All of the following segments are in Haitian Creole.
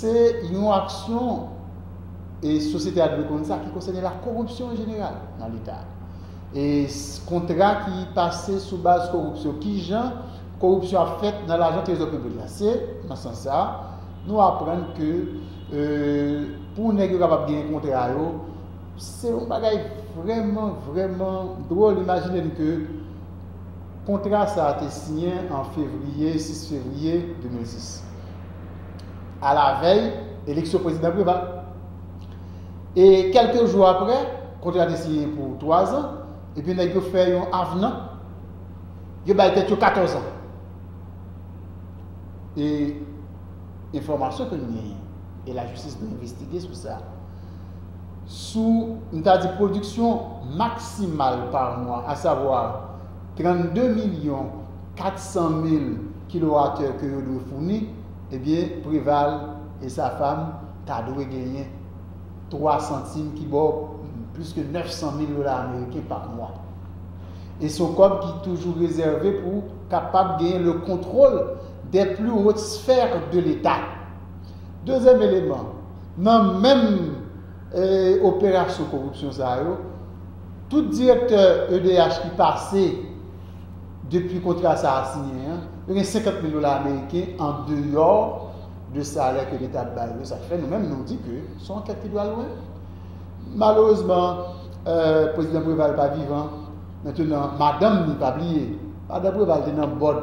Se yon aksyon, e sosyete a dwe konn sa, ki konsène lakoripsyon an jeneral nan Leta. E kontra ki pase sou baz koripsyon. Ki jan koripsyon ap fèt nan lajan trezò piblik la. Se nan sans sa a, nou aprann ke pou nèg yo kapab genyen kontra yo, se yon bagay vrèman, vrèman dwòl. Imajine n ke. Kontra sa a te siyen an fevriye 6 fevriye 2010, alavèy eleksyon prezidan Preval. E kèlke jou apre, kontra a te siyen pou twazan, epi nèg yo fè yon avenan, yo bay tèt yo katòzan. E enfòmasyon ke nou genyen, e lajistis dwe envestige sou sa, sou, m ta di pwodiksyon maksimal pa mwa, asavwa 32 milyon 400 mil kilowatè ke yo dwe founi, ebyen Preval e sa fam ta dwe genyen 3 santim ki ba w plis ke 900 mil dola ameriken pa mwa. E s on kòb ki toujou rezève pou kapab genyen le kontwol dè pli wot sfè de leta. Dezyèm eleman. Nan menm operasyon koripsyon sa yo, tout direktè edh ki pase depi kontra sa a siyen an, yo gen 50 mil dola ameriken an deyò de salè ke leta ap bay yo. Sa ki fè nou menm nou di ke son ankèt ki dwe lwen. Malerezman, Prezidan Preval pa vivan. Mentenan, madanm ni, pa bliye, madan Preval te nan bòd.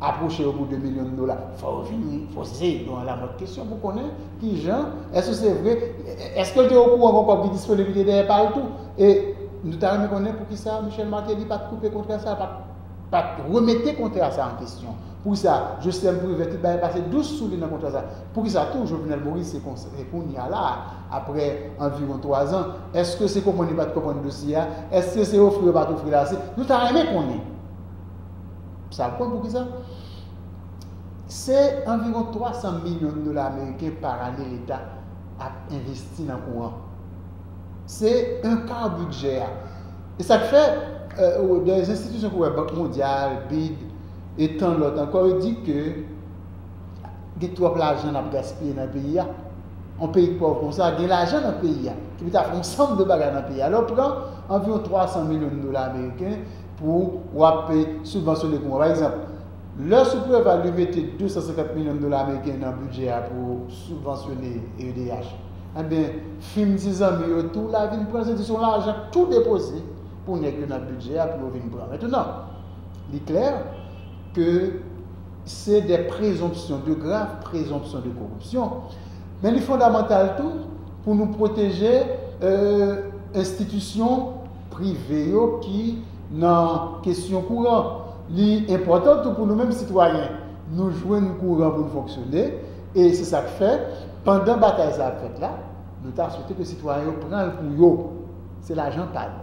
apwoche yo pou 2 milyon dola fò yo vin poze yo an lamòd kesyon pou konnen kijan èske se vre èske l te okouran kon kòb ki disponib li te dèyè pa l tou e nou ta renmen konnen poukisa Michel Martelly pat koupe kontra sa pat pat remete kontra sa an kesyon poukisa Joslèm Privè ki t bay pase 12 sou li nan kontra sa poukisa tou Jovenel Moïse se konsa se kounya la aprè anviwon 3 zan èske se konprann yo pat konprann dosye a èske se ofri yo pat ofri l ase nou ta renmen konnen. Sa w konn pou ki sa? Se anviwon 300 milyon dola ameriken par ane leta ap envesti nan kouran. Se un quart bidjè a. E sa k fè, dè enstitisyon pou wè Bank Mondyal, bid, e tan lòt ankò yo di ke gen twòp lajan n ap gaspiye nan peyi a. On peyi pòv kon sa gen lajan nan peyi a ki pou ta fè on sanm de bagay nan peyi a. Lè w pran anviwon 300 milyon dola ameriken, pou w ap sibvansyone pou mwen. Pa egzanp, lè sou Preval yo mete 250 milyon dola ameriken nan bidjè a pou sibvansyone edh, enben fim ti zanmi yo tou la vin pran l, se di se yon lajan tou depoze pou nèg yo nan bidjè a pou yo vin pran. Mètounan, li klè ke se de prezonpsyon, de grav prezonpsyon de koripsyon, men li fondamantal tou pou nou pwoteje enstitisyon. prive yo ki nan kesyon kouran. Li enpòtan tou pou nou menm sitwayen, nou jwenn kouran pou n fonksyone e se sa k fè, pandan batay sa ap fèt la, nou ta swete ke sitwayen yo pran l pou yo. Se lajan pa l.